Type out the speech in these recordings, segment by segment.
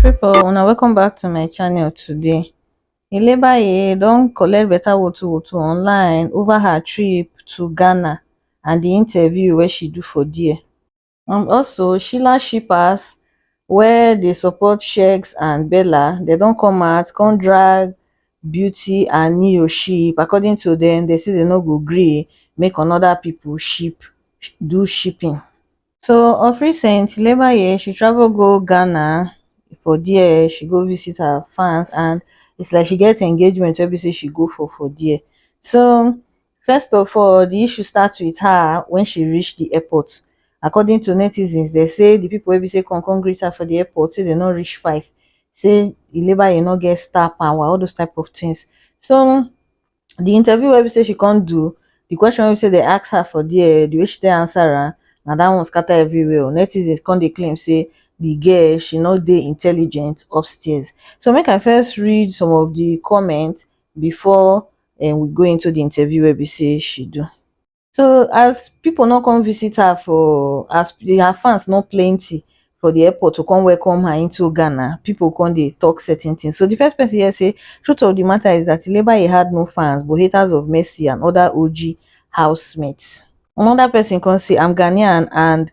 people una welcome back to my channel today ilebaye don collect better woto woto online over her trip to ghana and the interview wey she do for there and also sheila shippers wey dey support sheggz and bella dem don come out come drag beauty and ne-yo ship according to dem dem say dem no go gree make another people ship do shipping so of recent labour year she travel go ghana for there she go visit her fans and it's like she get engagement wey be say she go for for there so First of all, di issue start wit her wen she reach di airport. According to netizens, dem say di pipo wey be say come come greet her for di airport say dem no reach five, say di labour no get star power, all those type of tins. So di interview wey be say she come do, di question wey be say dem ask her for dia, di way she take answer am, na dat one scata everywhere o. Netizens come dey claim say di girl she no dey intelligent upstairs. So make I first read some of di comment bifor um we go into the interview wey be sey she do so as people no come visit her for as her fans no plenty for the airport to come welcome her into Ghana, people come dey talk certain things. So the first person here say, truth of the matter is that Ilebaye had no fans but haters of Mercy and other OG housemates. Another person come say, I'm Ghanaian and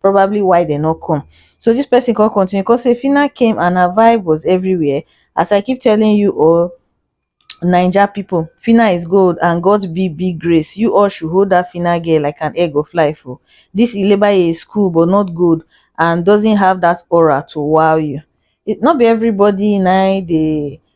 probably why dem no come so this person come continue come say Phyna came and her vibe was everywhere as I keep telling you all Naija people Phyna is gold and God be big grace you all should hold that Phyna girl like an egg of life o oh. this Ilebaye is cool but not good and doesn't have that aura to wow you it not be everybody na dey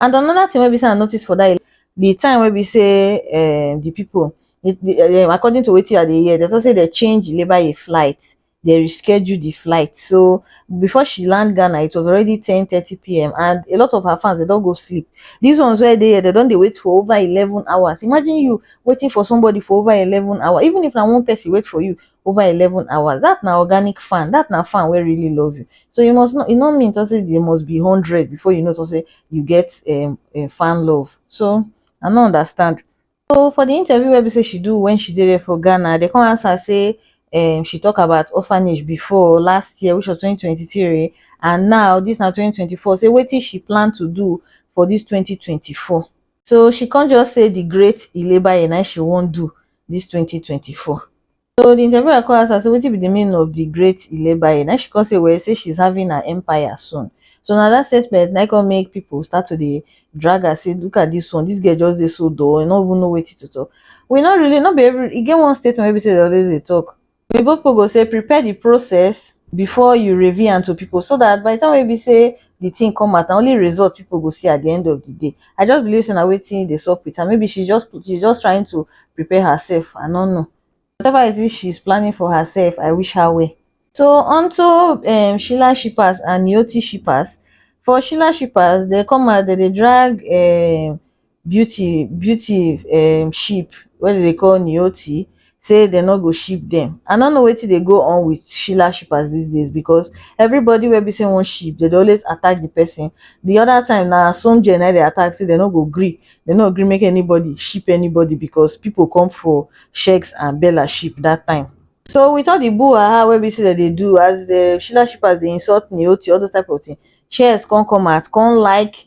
And another thing wey be sey I notice for that the time wey be sey um the people the the um according to wetin I dey hear, they talk say they change the labour in flight, they reschedule the flight. So before she land Ghana, it was already ten thirty PM and a lot of her fans they don go sleep. These ones wey dey here, they don dey wait for over eleven hours. Imagine you waiting for somebody for over eleven hours. Even if na one person wait for you, over eleven hours dat na organic fan dat na fan wey really love you so you must not e no mean talk say there must be hundred before you know talk say you get um um fan love so I no understand. So for the interview wey be say she do when she dey there for Ghana dem come ask her say um she talk about orphanage before last year which was twenty twenty three and now this na twenty twenty four say wetin she plan to do for this twenty twenty four so she come just say the great ilebaye na she wan do this twenty twenty four so the interviewer come ask her say wetin be the meaning of the great ilebaye na she come say well say she's having her empire soon so na that statement na come make people start to dey drag her say look at this one this girl just dey so dull e no even know wetin to talk we no really no be every e get one statement wey be say dem always dey talk oyinbo pipu go sey prepare di process before you reveal am to pipu so dat by di time wey be sey di tin come out na only result pipu go see at di end of di day I just believe sey na wetin dey sup with am maybe she just she just trying to prepare herself I no know whatever it is she's planning for herself I wish her well. So onto um Sheila Shipaz and Yoti Shipaz for Sheila Shipaz dey come out dey dey drag um beauty beauty um ship wey dem dey call niothi say dem no go ship dem i no know wetin dey go on with shila shippers this days because everybody wey be say wan ship dem dey always attack the person the other time na asoonjee na im dey attack say dem no go gree dem no go gree make anybody ship anybody because people come for sheks and bella ship that time so with all the buhaha wey be say dem dey do as the shila shippers dey insult niothi all those type of thing shekz come come out come like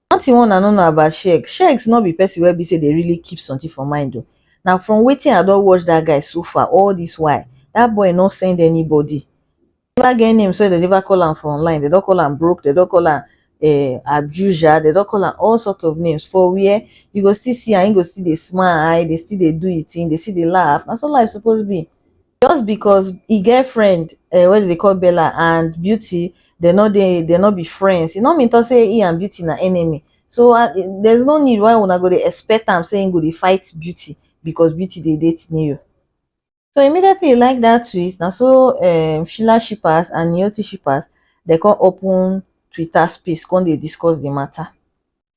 Nothing wey una no know about Sheggz, Sheggz no be person wey be say dey really keep something for mind o, na from wetin I don watch that guy so far all this while, that boy no send anybody, he never get name sef, dem never call am for online, dem don call am broke, dem don call am um abuser, dem don call am all sort of names for where? You go still see am, he go still dey smile, dey still dey do him thing, dey still dey laugh, na so life suppose be. just because e get friend um wey dem dey call Bella and Beauty dem no dey dem no be friends e no mean talk say him and Beauty na enemy so there is no need why una go dey expect am say him go dey fight Beauty because Beauty dey date Neo so immediately he like that tweet na so um Sheila shippers and Neoti shippers dem come open Twitter space come dey discuss the matter.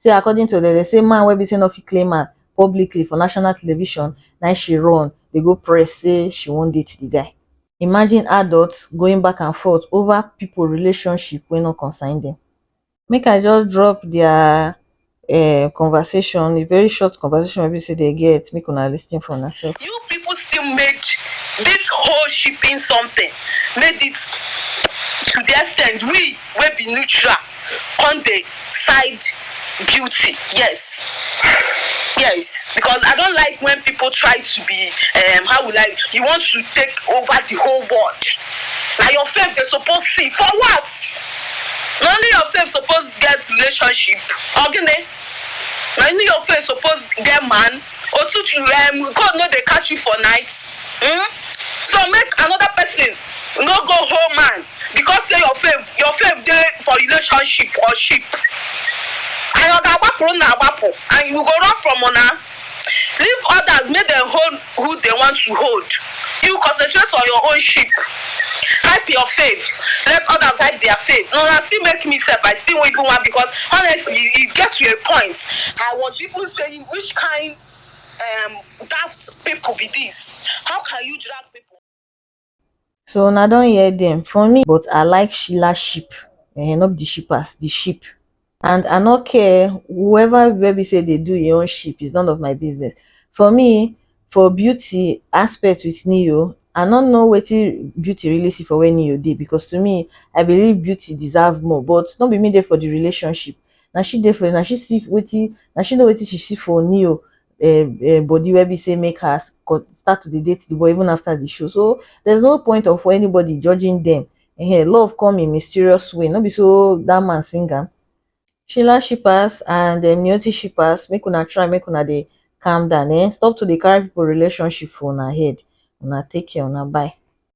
say according to dem dem say man wey be say no fit claim am publicly for national television na im she run dey go press say she wan date di guy. Imagine adults going back and forth over pipo relationship wey no concern dem. Make I just drop dia um conversation, a very short conversation wey be say dem get, make una lis ten for unasef. You people still made this whole shipping something made it to the extent we. wey be neutral come dey side beauty yes yes because I don't like when people try to be um how will I you want to take over the whole world na your faith they suppose see for what na only your faith suppose get relationship or gini na only your faith suppose get man otutu um God no dey catch you for night um so make another person no go hold man because say your fav your fav dey for relationship or ship and oga agbapuru na agbapu and you go run from una leave others make dem hold who dem want to hold you concentrate on your own ship hype your fav let others hype their fav na una still make me sef I still even wan because honestly e get to a point I was even saying which kind um daft people be this how can you drag people. so una don hear dem for me but i like sheila sheep um no be the shippers the sheep and i no care whoever wey be say dey do him own sheep is none of my business for me for beauty aspect with neo i no know wetin beauty really see for where neo dey because to me i believe beauty deserve more but no be me dey for the relationship na she dey for na she see wetin na she know wetin she see for neo um um body wey be sey make her con start to dey date the boy even after the show so there's no point of for anybody judging them um love come in mysterious way no be so that man sing am sheila shippers and um niyoti shippers make una try make una dey calm down um stop to dey carry people relationship for una head una take care una bye